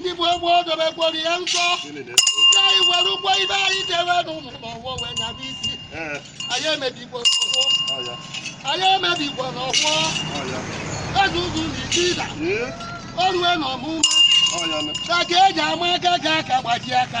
ndị gboo dobekwara ya nsọ ya anyị were ụgwọ ibe anyị debe n'ụlọ n'ọwọ wee nyaba isi anyị emebikwana ọwọ anyị emebikwana ọwọ eze ụzụ na Ichida o rue n'omume aka eji ama aka ka aka gbaji aka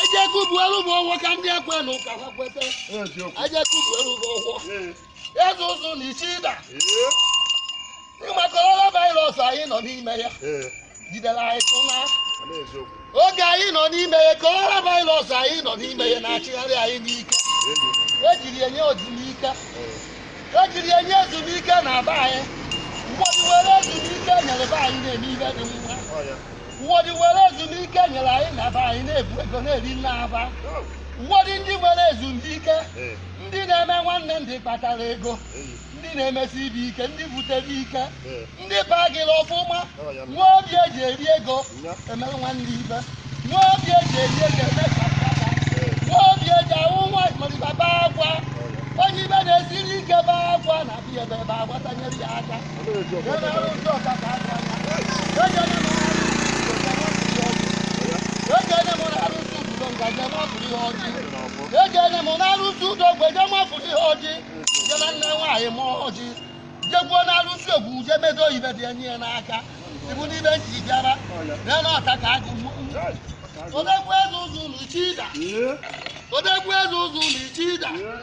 Ajeku bụ elu bụ ọgwọ ka ndị ekwe na ụka ha kweta. Ajeku bụ elu bụ ọgwọ. Eze ụzụ na Ichida. Ịma coronavirus anyị nọ n'ime ya. Jidere anyị tụ na. Oge anyị nọ n'ime ya, coronavirus anyị nọ n'ime ya na-achịgharị anyị n'ike. Ejiri enye ezumike. Ejiri enye ezumike na be anyị. Ụfọdụ were ezumike nyere be anyị na-eme ihe dị mma. ụfọdụ nwere ezumike nyere anyị na be anyị na-ebu ego na-eri nnaa ba ụfọdụ ndị nwere ezumike ndị na-eme nwanne ndị kpatara ego ndị na-emesi ibe ike ndị butere ike ndị bagịrị ọfụma nwee obi eji eri ego emere nwanne ibe nwee obi eji eri ego eme ka mkpata nwee obi eji ahụ nwa maliba baa akwa onye ibe na-esiri ike baa akwa na abịa ebe ebe agbata nyere ya aka ejene m n'arụsị udo mgbe je mafụrụ ihe ọjị jena nne nwaanyị m ọjị jekwuo n'arụsị ogwu je medo ibe dị enye ya n'aka ibu n'ibe nji bịara bịa n'ọta ka agụ odegwu eze ụzụ na Ichida odegwu eze ụzụ na Ichida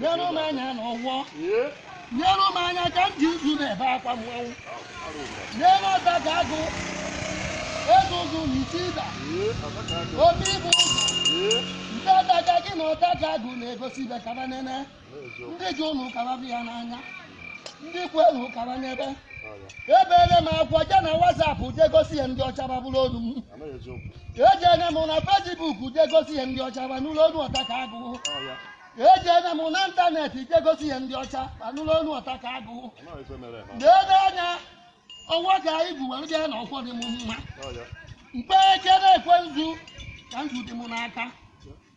neruo m anya na ọwọ neruo m anya ka m ji uzu na-ebe akwa mmanwụ neruo ọta ka agụ eze ụzụ na Ichida obi ịbụ ụzọ nke ọta ka gị na ọta ka agụ na-egosi ibe ka ba nene ndị ji ụlọ ka ba bụ ya n'anya ndị ikwu elu kara n'ebe ebeele m akwa je na WhatsApp je gosi ihe ndị ọcha ba nụrụ olu m ejeele m na Facebook je gosi ihe ndị ọcha ba nụrụ olu ọta ka agụ ejeele m na internet je gosi ihe ndị ọcha ba nụrụ olu ọta ka agụ na-ele anya ọnwa ka anyị bu were bịa na ọkwọ dị m mma mkpe eke na-ekwe nzu ka nzu dị m n'aka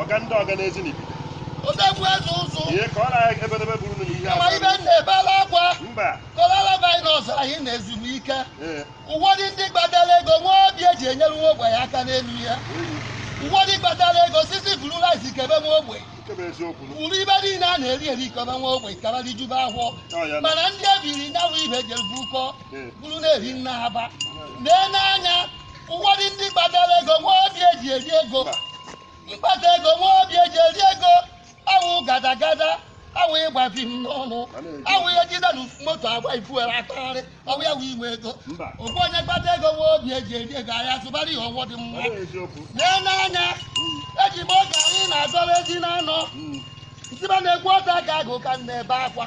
ọga ndị ọga n'ezi n'ibi odegwu eze ụzụ ihe ka ọ na-ahịa ebedebe bụrụ na ihe ma ibe m na-ebela akwa mba coronavirus anyị nọ ezumike ee ụfọdụ ndị kpatara ego nwee obi eji enyere nwa ogbenye aka n'elu ụwa ụfọdụ kpatara ego sisi buru rice kebe nwa ogbenye nke bụ eziokwu nụ. buru ibe niile a na-eri eri kebe nwa ogbenye ka ba rijuba ahọ Ọ ya nụ. mana ndị ebiri nyawa ibe jere bukọọ Ee. buru na-eri nnaa ba na-ele anya ụfọdụ ndị kpatara ego nwee obi eji eri ego kpata ego nwee obi eji eri ego awụ gadagada awụ ịgba fim n'ọnụ awụ ihe jide na moto agba ifuere atagharị ọwụ ya wụ inwe ego Mba. ọwụ onye kpata ego nwee obi eji eri ego ahịa zụbara ihe ọwụ dị mma Ọ bụ eziokwu. lee n'anya eji m oge anyị na-azọrọ ezi na anọ Mm. ntiba na-ekwu ọta ka agụ ka m na-ebe akwa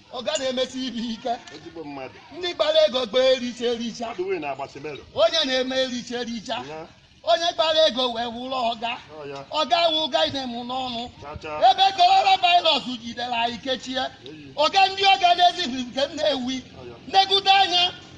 ọga na-emesi ihe ike ezigbo mmadụ ndị kpara ego kpaa ericha ericha mmadụ wụ na Agbasimelo onye na-eme ericha ericha ya onye kpara ego wee wụrụ ọga ọ ya ọga wụ ọga na-eme n'ọnụ chacha ebe korona virus jidere anyị kechie eyi ọga ndị ọga na Ezinifite Nnewi ọ ya negide anya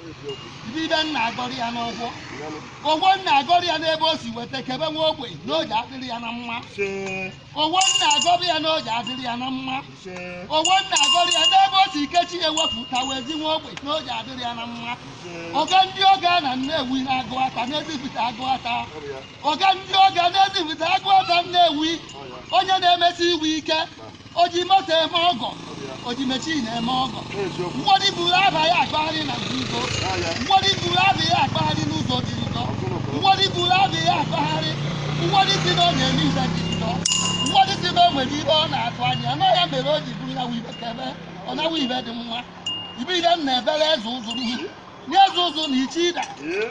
ihe m na-agọrọ ya n'ọfọ ọfọ m na-agọrọ ya n'ebe o si weta kebe nwa ogbenye n'o ji adịrị ya na mma ọfọ m na-agọrọ ya n'o ji adịrị ya na mma ọfọ m na-agọrọ ya n'ebe o si kechie ewepụta wee zi nwa ogbenye n'o ji adịrị ya na mma ọga ndị ọga na Nnewi na Aguata na Ezinifite Aguata ọga ndị ọga na Ezinifite Aguata Nnewi onye na-emesi ihe ike o ji moto eme ọgọ o ji mechin eme ọgọ eziokwu mgbọdị buru aba ya akpagharị na nzuzo n'ahịa mgbọdị buru aba ya akpagharị n'ụzọ dị njọ mgbọdị buru aba ya akpagharị mgbọdị si na ọ na-eme ihe dị njọ mgbọdị si na o nwere ihe ọ na-atụ anya na ya mere o ji buru ya ibe kebe ọ nawa ihe dị mma ibe ihe m na-ebere eze ụzụ m nye eze ụzụ na Ichida ee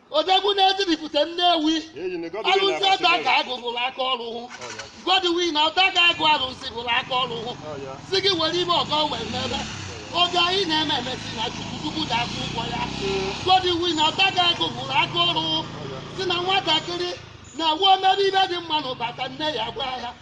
odogwu na Ezinifite Nnewi alụsị ọta ka agụ hụrụ aka ọrụ hụ Godwin na ọta ka agụ alụsị hụrụ aka ọrụ hụ si gị were ime ọgọ wee mebe ọgọ ị na-eme eme sị na chukwu chukwu ga-akwụ ụgwọ ya Godwin na ọta ka agụ hụrụ aka ọrụ hụ si na nwatakịrị na-ewu omebe ihe dị mma n'ọ bata nne ya gwa ya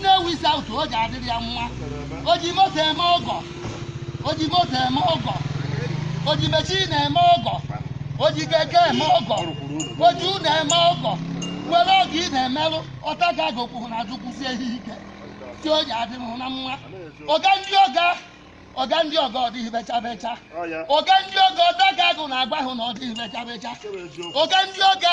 Nnewi South o ji adịrị ya mma o ji moto eme ọgọ o ji moto eme ọgọ o ji mechin eme ọgọ o ji keke eme ọgọ o ji ụlọ eme ọgọ were ọgọ ị na-emerụ ọta ka agụ kwụ n'azụ kwụsie ihe ike si o ji adịrị hụ na mma ọga ndị ọga ọga ndị ọga ọ dịghị becha becha ọga ndị ọga ọta ka agụ na-agwa hụ na ọ dịghị becha becha ọga ndị ọga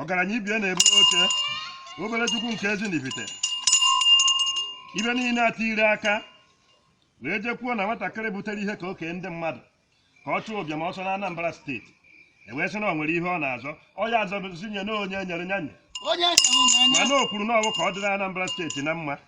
ọgaranya ibie na-eburu oche obere chukwu nke Ezinifite ibe niile ata ire aka wee jekwuo na nwatakịrị butere ihe ka oke ndị mmadụ ka ọ chụọ ụbịam ọsọ na Anambra steeti ewee sị na ọ nwere ihe ọ na-azọ ọ ya azọzinye na onye nyere nyanye onye ahụ na-enye mana o kwuru na ọwụ ka ọ dịrị Anambra steeti na mma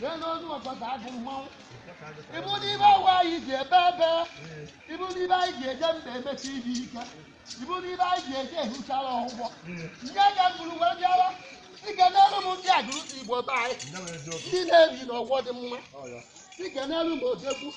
Jee n'ozu ọta ka agụ mmanwụ. Ị bụ dibia awa anyị ji ebe ebe. Ị bụ dibia anyị ji eje mba emesi ihe ike. Ị bụ dibia anyị ji eje ehuchara ọgwụgwọ. Nye ga mgburu wee bịara. I kenelu m ndị Aguluzigbo be anyị. Ndị na-ebi n'ọgbọ dị mma. I kenelu m odogwu.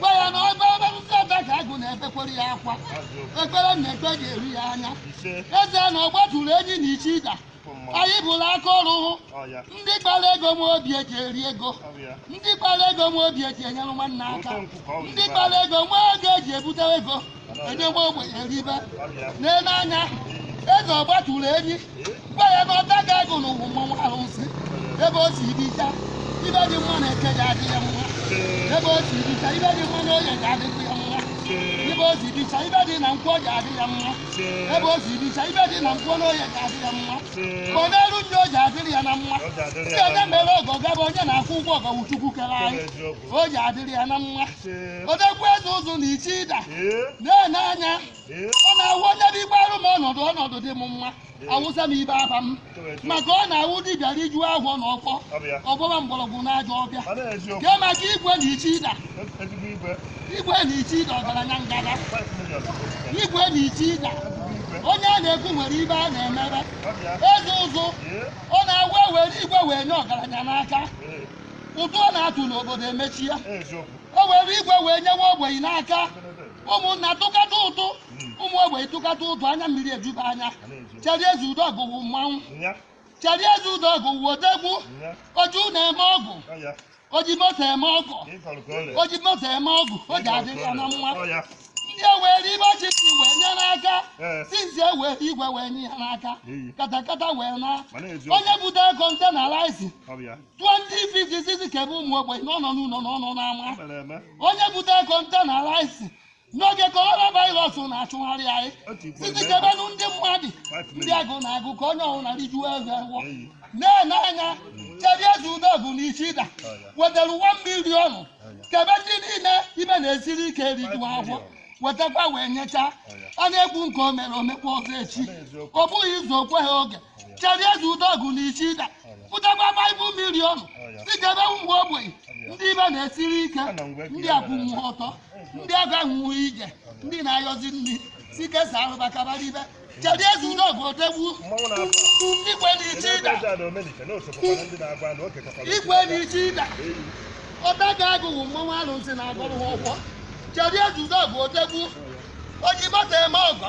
gwa ya na ọba ebe ndị ebe ka agụ na-ebekwere ya akwa ekpere na ekpe ga-eru ya anya eze na ọgbatụrụ enyi na Ichida anyị bụrụ aka ọrụ hụ ndị kpara ego nwee obi eji eri ego ndị kpara ego nwee obi eji enyere nwanne aka ndị kpara ego nwee ego eji ebute ego enyewe ogbenye eribe na-ene anya eze ọgbatụrụ enyi gwa ya na ọta ga agụ n'ụwa mmanwụ ahụ si ebe o si ibicha ibe dị mma na Eke ja-adị ya mma ebe o si ibicha ibe dị mma na oye ga-adịkwu ya mma ebe o si ibicha ibe dị na nkwọ ga-adị ya mma ebe o si ibicha ibe dị na nkwọ na oye ga-adị ya mma ma n'elu ndị ọ ja-adịrị ya na mma ndị onye mere ọgọ gaba onye na-akwụ ụgwọ ọgọ wụ Chukwu kere anyị ọ ja-adịrị ya na mma odegwu eze ụzụ na Ichida na-ene anya ọ na-awụ onye bụ igbe arụ m ọnọdụ ọnọdụ dị m mma awụsa m ibe aba m maka ọ na-awụ dibịa rijuo ahọ na ọkpọ ọ bọba mgbọrọgwụ na ajọ ọbịa kee maka igwe na Ichida igwe na Ichida ọgaranya ngada igwe na Ichida onye a na-ekwu nwere ibe a na-emebe eze ụzụ ọ na-awụ ewere igwe wee nye ọgaranya n'aka ụtụ ọ na-atụ n'obodo emechi ya e were igwe wee nyewe ogbenye n'aka ụmụnna tụkata ụtụ ụmụ ogbenye tụkata ụtụ anya mmiri ejuba anya Charlie Ezeudogu wụ mmanwụ Charlie Ezeudogu wụ odegwu oji ụnọ eme ọgọ oji moto eme ọgọ oji moto eme ọgọ ọ ja-adịrị ya na mma ndị ewere ibe ọchịchị wee nye n'aka since ewere igwe wee nye ya n'aka katakata wee na onye bute kontena rice 20 feet izizi kebe ụmụ ogbenye na ọ nọ n'ụlọ na ọ nọ n'ama onye butere kọntena rice n'oge coronavirus na-achụgharị anyị izizi kebenụ ndị mmadụ ndị agụụ na-agụ ka onye ọbụla rijuzie ahọ na-ene anya Charlie Ezeudogu na Ichida wetara 1 million kebe ndị niile ibe na-esiri ike rijuo ahọ wetakwa wee nyecha a na-ekwu nke o mere o mekwa ọzọ echi ọ bụghị izu okwe ha oge Charlie Ezeudogu na Ichida butekwa 5 million si kebe ụmụ ogbenye ndị ibe na-esiri ike ndị akwụnwụ ọtọ ndị agaghị ije ndị na-ayọzi nri si kesa arụba kabara ibe Charlie Ezeudogu odegwu igwe na Ichida igwe na Ichida ọta ga agụ wụ mmanwụ arụsị na agụrụ ha ọkwọ Charlie Ezeudogu odegwu oji moto eme ọgọ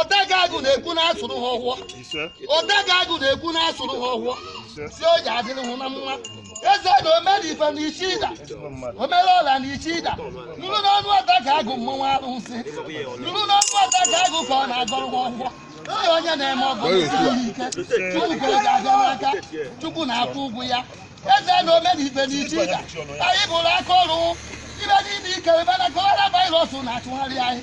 Ọtakagụ na-ekwu na-asụrụ ha ọhọ Ọtakagụ na-ekwu na-asụrụ ha ọhọ sị o ji adịrị ha na mma eze na omere ife na Ichida omere ọla na Ichida nụrụ n'ọnụ Ọtakagụ mmanwụ arụsị nụrụ n'ọnụ Ọtakagụ ka ọ na-agọrọ ha ọhọ Ee, onye na-eme ọgọ n'isi ihe ike Chukwu ka ọ ga-abịa n'aka Chukwu na-akwụ ụgwọ ya eze na omere ife na Ichida anyị bụrụ aka ọrụ ibe niile ike ebe na kọrọna virus na-achụgharị anyị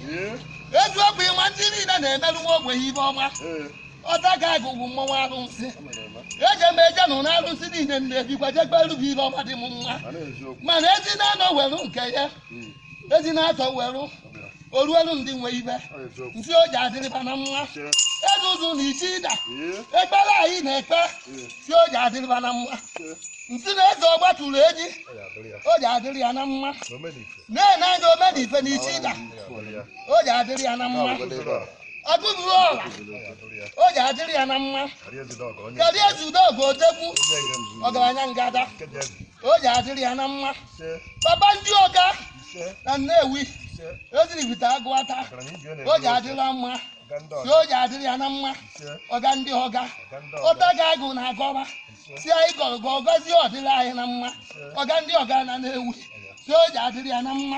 Ee, eziokwu ịma ndị niile na-emerụ nwa ogbenye ibe ọma ee, Ọtakagụ mmọnwụ arụsị ọ mere eme. eje m eje nụ na arụsị niile m na-ebikwa jekperu bụ ibe ọma dị m mma Mana eziokwu. mana ezi na-anọ werụ nke ya Mm, ezi na-atọ werụ ọ bịara. oruelu ndị nwe ibe Ọ eziokwu. nsị o ji adịrị ba na mma Che. eze ụzụ na Ichida Ee, ekpere anyị na-ekpe ee, sị o ji adịrị ba na mma che. nsị na eze ọgbatụrụ enyi Ọ ya adịrị ya. o ji adịrị ya na mma Omenife. na-ene anya Omenife n'Ichida o ji adịrị ya na mma ọ bụghị ọla o ji adịrị ya na mma kedu ezi udogo odegwu ọgaranya ngada o ji adịrị ya na mma papa ndị ọga na Nnewi Ezinifite Agụata o ji adịrị ya mma na o ji adịrị ya na mma ọga ndị ọga Ọtakagụ na-agọba sị anyị gọrọ gọ gọzie ọ dịrị anyị na mma ọga ndị ọga na Nnewi sị o ji adịrị ya na mma